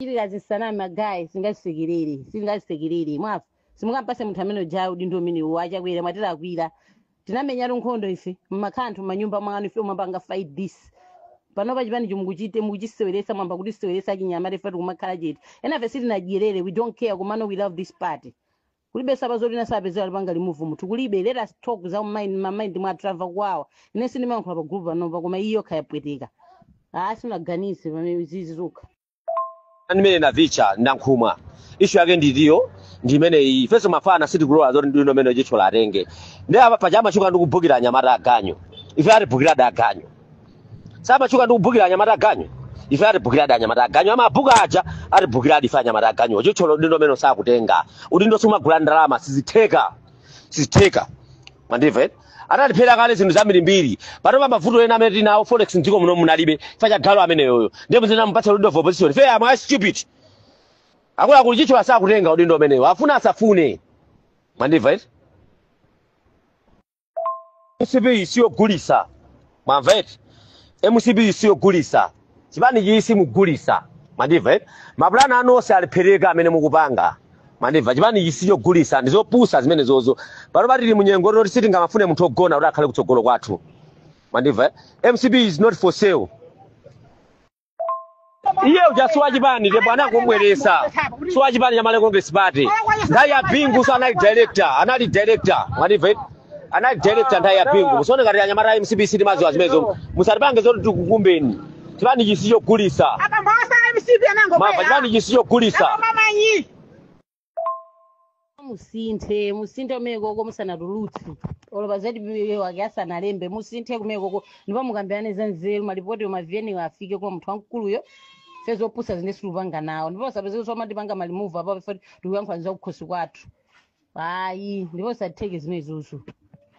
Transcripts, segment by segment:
chitira zisaname magaye singazisekerere singazisekerere mwamva simungampase munthu amene uja udindo umenewu a Chakwera mwatilakwira tinamenyatu nkhondo ife mmakhala anthu mmanyumba mwanu ife mwapanga fight this panopa chipanichi mukuchite mukuchiseweresa mwamba kutiseweresa achinyamata ife tikumakhala chete enafe sitinadyerere we don't care komano we love this party kulibe saba zoti wina asapezeke alipanga remove munthu kulibe let us talk za mind ma mind mwa trava kwawa ine sindimayankhula pa group panopa koma iyokha yapweteka ah sinaganize pamene izizi zokha ndimene navicha ndankhumwa issue yake ndiyo ndimene iyi ifenso mafana sitikulola zoti udindo umene Chithyola atenge ndi apa paja amatchuka ndi kubhukira anyamata aganyu ife atibhukiradi aganyu samatchuka ndi kubhukira anyamata aganyu ife atibhukiradi anyamata aganyu amabhuka aja atibhukiradi ife anyamata aganyu Chithyola udindo umene sakutenga udindo sumagula ndalama sizitheka sizitheka mwandimva eti anatiphera kale zinthu zambirimbiri panopa mavuto ena amene tinawo forex mdziko muno munalibe fa cha galu ameneyoyo ndiye muzikamupatsa leader of opposition fe am I stupid akuluakulu Chithyola sakutenga udindo umenewo afuna asafune mwandimva eti mcp siyogulisa mwamva eti mcp siyogulisa chipanichi simugulisa mwandimva eti mapulani anu onse alephereka amene mukupanga mwandimva chipanichi sichogulisa ndizopusa zimenezozo panopa tili munyengo yoti sitingamafune munthu ogona kuti akhale kutsogolo kwathu mwandimva eh? mcp is not for sale iye uja si wachipani ndipo anangobweresa si wachipani cha malawi congress party nthawi ya bingu so anali director anali director mwandimva anali director nthawi ya bingu musaone ngati anyamata a mcp sitimaziwa zimenezo musatipange zoti tikukumbeni chipanichi sichogulisa abambowa si a mcp mwamva anangobwera chipanichi sichogulisa Abambo amanyi musinthe musinthe kumekoko musanatulutse olo pa zatipiwe wake asanalembe musinthe kumekoko ndipo mukambirane za nzeru malipoti ma vn wo afike kwa munthu wamkuluyo ife zopusa zino sitikupanga nawo ndipo usapeze kuti omatipanga ma remove apapo ife tikuyankhula za kukhosi kwathu ayi ndipo usatheke zimenezozo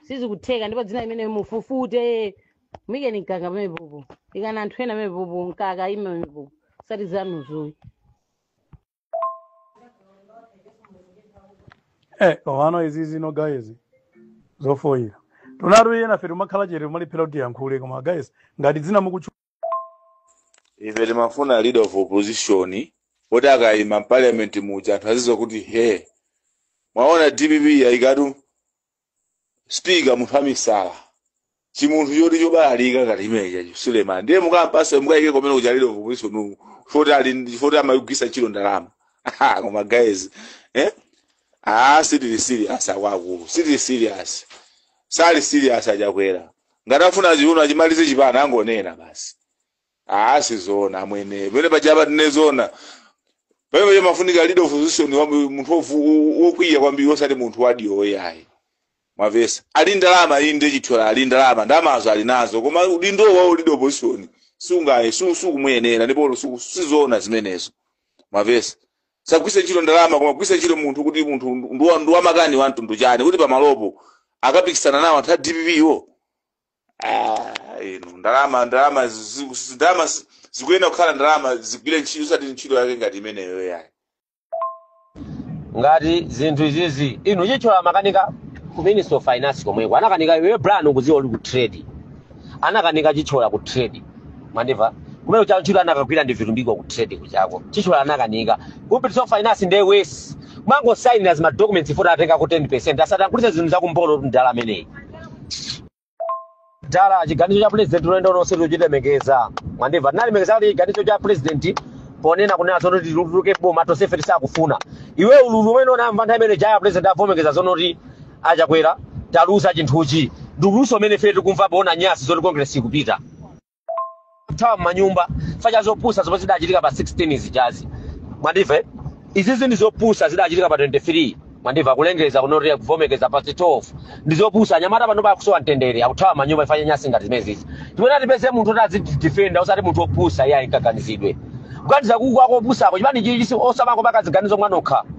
sizikutheka ndipo dzina limene mufufute muikeni Mkaka pamepopo ikani anthu ena pamepopo Mkaka aime pamepopo osati zanuzo ayi komano izi zino guys zofoyira tunatu enafe timakhala chete timalephera kuti tiyankhule koma guys ngati dzina mukutchu ife timafuna leader of opposition woti akayima mparliament muja anthu azidziwa kuti he mwaona dpp yayikatu speaker munthu wamisala chimunthu choti chobalalika ngati chimenechacho Suleman ndiye mukampase mukayike kumene kuja leader of opposition ku foti ali ndi- foti amayigwisa ntchito ndalama Aha, koma guys eh? ah, sitili serious akuluakulu sitili serious sali serious a Chakwera ngati afuna chiuno achimalize chipani angonena basi Aa sizoona amwene pamene pajapa tinene zoona pamene paja pamafunika leader opposition wa munthu wovu- wo- wokwiya kwambiri osati munthu wadyowo yayi mwavesa ali ndalama iyi ndiye chithyola ali ndalama ndalamazo ali nazo koma udindo wawo leader opposition sungaye su- sukumuyenera ndipo olo su- sizoona zimenezo mwavesa sagwiritsa ntchito ndalama koma gwiritsa ntchito munthu kuti munthu ndi wa- ndi wamakani wa mtundu wanji kuti pamalopo akapikisana nawo anthu a dpp wo Ah, inu ndalama ndalama zi- zi- zi- ndalama zi- zikuyenera kukhala ndalama zigwire ntchito osati ntchito yake ngati imeneyo yayi ngati zinthu izizi inu chithyola anakanika ku minister of finance komweko anakanika iwe brown ukuziwa uli ku trade anakanika chithyola ku trade mwandimva kumene cha ntchito anakagwira ndi vitumbiko ku trade kuchako chithyola anakanika ku minister finance ndi wes mango signer ma documents ifota atenga ku 10% asatangulitsa zinthu za kumbolo mdala ameneyi dala chiganizo cha president tonse tochilemekeza mwandimva tinalemekeza kuti chiganizo cha president ponena kunena zonena kuti tiluluke boma tonsefe tisakufuna iwe ululu umene unamva nthawi imene ija president avomereza zonena kuti achakwera taluza chinthuchi ndi ululuso umene ife tikumva poona nyasi zoti congress ikupita kuthawa m'manyumba chifukwa cha zopusa zomwe zidachitika pa 16 zijazi mwandimva izizi ndi zopusa zidachitika pa 23 mwandimva kulengeza kunena kuti kuvomereza pa 12 ndi zopusa anyamata panopa akusowa mtendere akuthawa m'manyumba chifukwa cha nyasi ngati zimenezizi tifuna tipeze munthu oti azitidifenda osati munthu opusa iye ayikaganizidwe kuganiza kuku akopusa ako chipani chichi osamako pakaziganizo mwanokha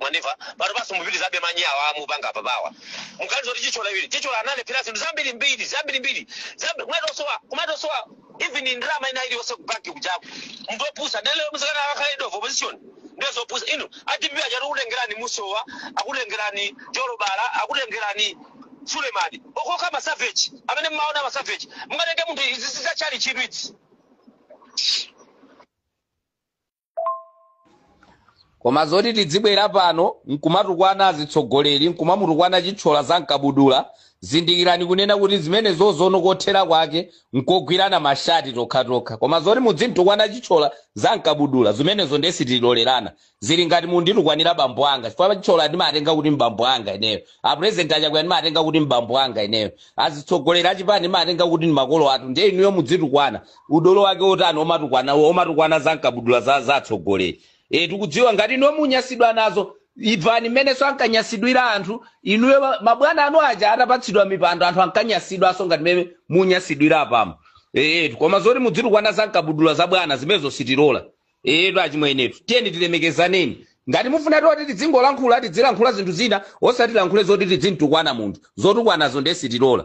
mwandimva pano basi mupitilizabe manyi awa mukupanga apa pawa muganize kuti chithyola iwe chithyola analephera zinthu zambiri mbiri zambiri mbiri zambi- kumatosowa kumatosowa even ndalama ina iliyonse kubanki kujaku munthu opusa dere muzikanena akakhale leader of opposition ndiye zopusa inu a dpp achita akutengerani musowa akutengerani jolobala akutengerani sulemani okhaokha masaveji amene mmaona masaveji mungatenge munthu ichi chizakhala chitsiru koma zoti tidzibwera pano nkumatukwana azitsogoleri nkumamutukwana chithyola za mkabudula zindikirani kunena kuti zimenezo tsono kothera kwake nkogwirana mashati tokhatokha koma zoti mudzimtukwana chithyola za mkabudula zimenezo ndiye sitilolerana zili ngati munditukwanira bambo anga chifukwa chithyola ndimatenga kuti mbambo anga ineyo apurezidenti achakwera ndimatenga kuti mbambo anga ineyo azitsogoleri achipani ndimatenga kuti ndi makolo athu ndiye inuyo mudzitukwana Udolo wake wotani omatukwana omatukwana za mkabudula za za atsogoleri. Eh tikudziwa ngati inuyo munyasidwa nazo imvani mmenenso ankanyasidwira anthu inuyo ma- mabwana anu aja atapatsidwa mipando anthu ankanyasidwanso ngati mmene munyasidwira apamo. Eh koma zoti mudzitukwana za mkabudula za bwana zimenezo sitilola. Eh to achimwenetu tiyeni tilemekezaneni. Ngati mufuna zoti tidzingolankhula tidzilankhula zinthu zina osati lankhule zoti tidzintukwana munthu zotukwanazo ndiye sitilola.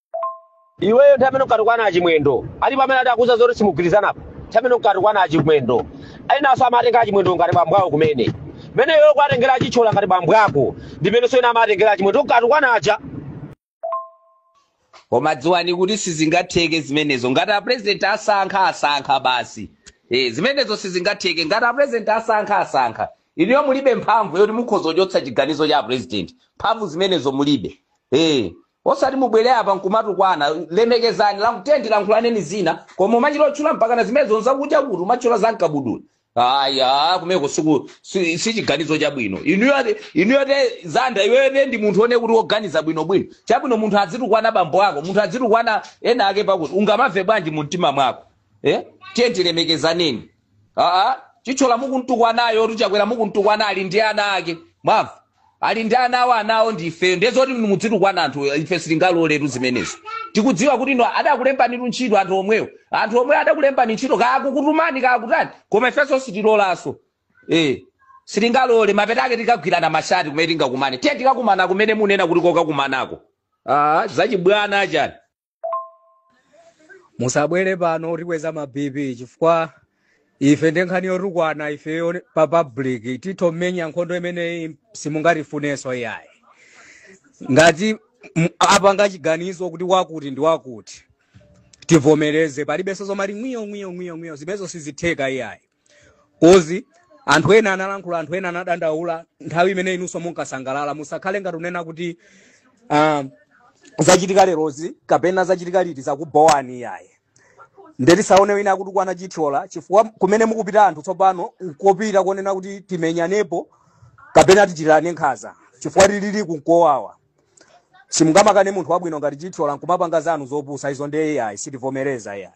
iweyo nthawi imene unkatukwana achimwendo alipo amene ati akuuza zoti simugwirizanapo nthawi imene unkatukwana achimwendo ayinanso amatenga achimwendo ngati bambo awo kumene mmene iweyo ukuwatengera achitchola ngati bambo ako ndimenenso ena amatengera achimwendo unkatukwana aja koma dziwani kuti sizingatheke zimenezo ngati apurezidenti asankha asankha basi e, zimenezo sizingatheke ngati apurezidenti asankha asankha inuyo mulibe mphamvu yoti mukhoza kuchotsa chiganizo cha apurezidenti mphamvu zimenezo mulibe e, Osati mubwere apa nkumatukwana, lemekezani, lank, tiyeni tilankhulaneni zina, koma umachita otchula mpakana zimenezo mzakudya kuti umatchula za mkabudula. Aya, kumeko siku si, si chiganizo chabwino. Inuyo ati- inuyo te zanda iweyo tendi munthu one kuti woganiza bwino bwino. Chabwino munthu azitukwana bambo ako, munthu azitukwana ena ake pakuti ungamamve bwanji mu mtima mwako? Eh? Tiyeni tilemekezaneni. aa chitchola mukuntukwanayo kuti Chakwera mukuntukwana ali ndi ana ake mwamva ali ndi ana awo anawo ndi ifeyo ndiye zoti muzitukwana anthu ife sitingaloletu zimenezo tikudziwa kuti inu adakulembani ntchito anthu omwewo anthu omwewo adakulembani ntchito kaya akukutumani kaya akutani koma ifenso sitilolanso eh sitingalole mapeto ake tikagwirana mashati kumene tingakumane tiye tikakumana kumene munena kuti kokakumanako aa zachibwana achani musabwere pano kutikweza ma bp chifukwa ife ndi nkhani yotukwana ifeyo pa public titomenya nkhondo imeneyi simungatifunenso iyayi ngati m- apanga chiganizo kuti wakuti ndi wakuti tivomereze palibenso zomati ngwiyo ngwiyo ngwiyo ngwiyo zimenezo sizitheka iyayi kozi anthu ena analankhula anthu ena anadandaula nthawi imene inunso munkasangalala musakhale ngati unena kuti ah, zachitika lerozi kapena zachitika liti zakubhowani iyayi nde tisaone wina akutukwana chithyola chifukwa kumene mukupita anthu tsopano nkopita kunena kuti timenyanepo kapena tichitirane nkhaza chifukwa tili kunkowawa simungamakane munthu wabwino ngati chithyola nkumapanga zanu zopusa izo ndiye iyayi sitivomereza iyayi